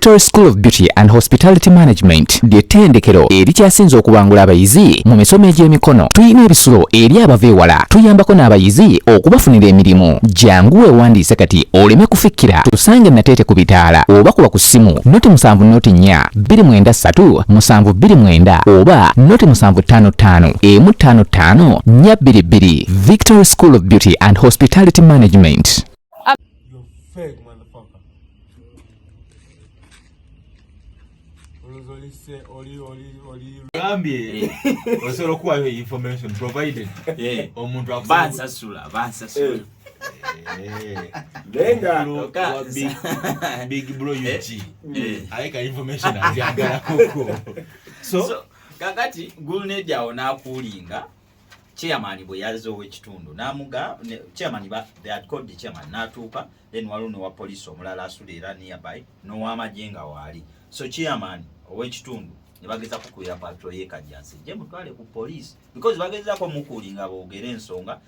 Victory School of Beauty and Hospitality Management ly'ettendekero erikyasinze okubangula abayizi mu misomo egy'emikono. Tulina ebisulo eri abava ewala, tuyambako n'abayizi okubafunira emirimu. Jangu weewandiise kati oleme kufikira. Tusange Nateete ku bitaala oba kuba ku ssimu noti musanvu noti nnya bbiri mwenda ssatu musanvu bbiri mwenda oba noti musanvu ttaano ttaano emu ttaano ttaano nnya bbiri bbiri victory school of beauty and hospitality management gambye osobola okuwayo information provided eh. omuntu bansasula bansasula eh. Eh. Lenga bro, big, big bro UG. Eh, eh. Aika information aziagala kuko. So, so kakati Gulnedi awo nakulinga chairman bwe yazze ow'ekitundu n'amuga chairman ba they had called the chairman n'atuuka then waliwo ne wa police omulala asula era nearby n'ow'amagye nga waali so chairman ow'ekitundu ne bageza kukuira patro ye kajjansi je mutwale ku police because bagezako mukuuli nga boogere ensonga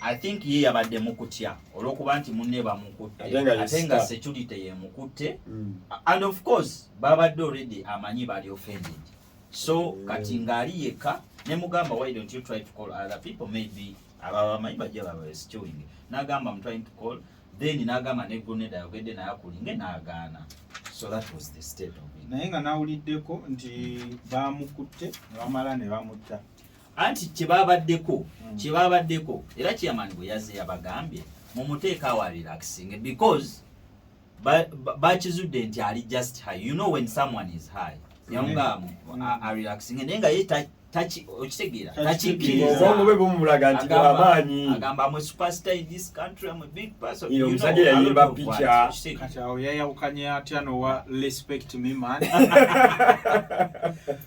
I think ye yabadde mukutya olwokuba nti munne bamukutte ate nga security yemukutte mm. and of course babadde already amanyi bali offended so mm. kati ngaali yekka nemugamba why don't you try to call other people maybe ababamanyi bajja babasituing nagamba am trying to call then nagamba ne grenade ayogedde naye akulinge nagaana so that was the state of it naye nga nawuliddeko nti bamukutte nebamala nebamutta anti kyebabaddeko hmm. kyebabaddeko era chairman bwe yazze yabagambye mumuteeka awa relaxing because bakizudde nti ali just high you know when someone is high yawunga hmm. arelaxing naye nga ye okitegeera takikkirizaomulaga nti amaanyi agamba am a superstar in this country am a big person you know yayimba picha kati awo yayawukanye atya nowa respect me man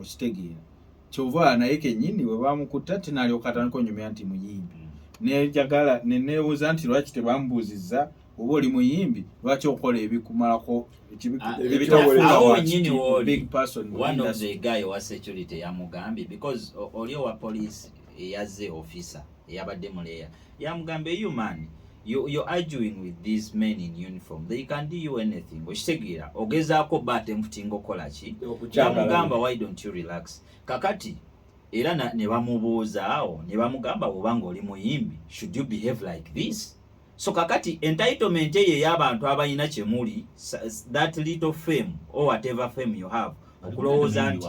okitegeera kyova naye kenyini webamukutte ate nalyoka atandika onyumya nti muyimbi nejagala nenebuuza nti lwaki tebamubuuzizza oba oli muyimbi lwaki okola ebikumalako ebitafuuaowa security yamugambye because oli owa poliisi eyaze officer eyabadde muleya yamugamba eyo man you, you're arguing with these men in uniform they can do you anything okitegeera ogezaako ba atemputinga okukola ki yamugamba why don't you relax kakati era ne bamubuuza awo ne bamugamba woba nga oli muyimbi should you behave like this so kakati entitlement eyo ey'abantu abalina kyemuli that little fame or whatever fame you have okulowooza nti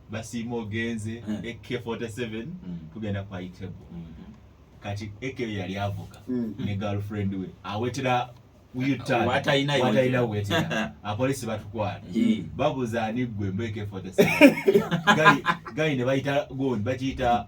basiima ogenze ak47 hmm. tugenda kwa itebo hmm. kati eke yali avuga hmm. ne girlfriend we awetera watalina wetera apolisi batwala babuza ani gwe mbeke 47 gali ne bayita goni bakiyita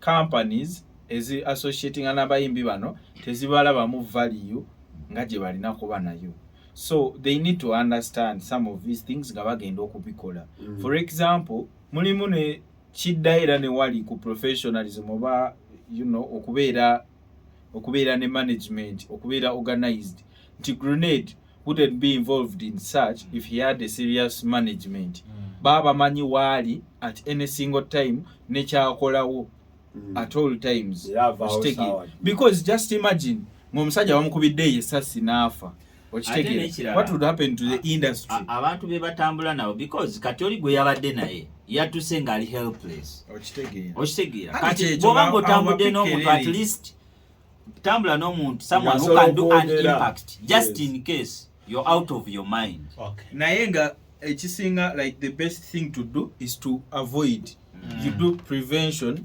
companies ezi associating n'abayimbi bano tezibalabamu value nga gye balina kuba nayo so they need to understand some of these things nga bagenda okubikola mm. for example mulimu ne kidda era ne wali ku professionalism oba you know okubeera okubeera ne management okubeera organized nti grenade wouldn't be involved in such if he had a serious management mm. baba bamanyi waali at any single time nekyakolawo mm. at all times yeah, because just imagine ngaomusajja bamukubidde eyo esasi naafa abantu be batambula nabo because kati oli gwe yabadde naye yatuse ngaali helpless okitegeera kati bwoba nga otambudde n'omuntu at least tambula n'omuntu someone who can do an impact just in case you're out of your mind naye nga ekisinga like the best thing to do is to avoid mm. you do prevention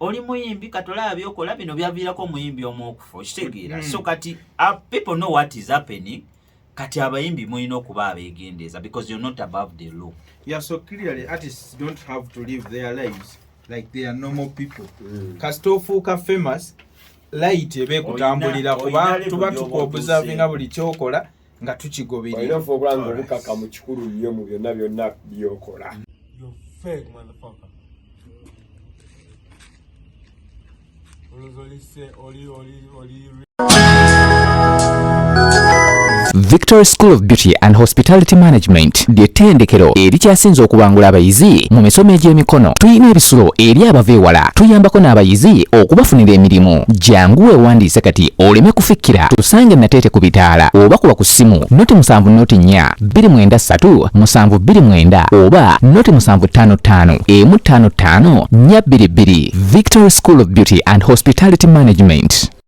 oli muyimbi katolaba byokola bino byaviirako omuyimbi omu okufa okitegeera mm. so kati uh, people know what is happening kati abayimbi mulina okuba abegendeeza because you're not above the law yeah so clearly artists don't have to live their lives like they are normal people mm. kasita ofuuka famous light eba ekutambulira kuba tuba tukuobservinga buli kyokola nga tukigoberera olina ffe okulaba nga obukaka mu kikulu nnyo mu byonna byonna byokola Victory School of Beauty and Hospitality Management University lye ttendekero erikyasinze okubangula abayizi mu misomo egy'emikono. Tulina ebisulo eri abava ewala. Tuyambako n'abayizi okubafunira emirimu. Jangu weewandiise kati oleme kufikkira. Tusange Nateete ku bitaala oba kuba ku ssimu noti musanvu noti nnya bbiri mwenda ssatu musanvu bbiri mwenda oba noti musanvu ttaano ttaano emu ttaano ttaano nnya bbiri bbiri. Victory School of Beauty and Hospitality Management.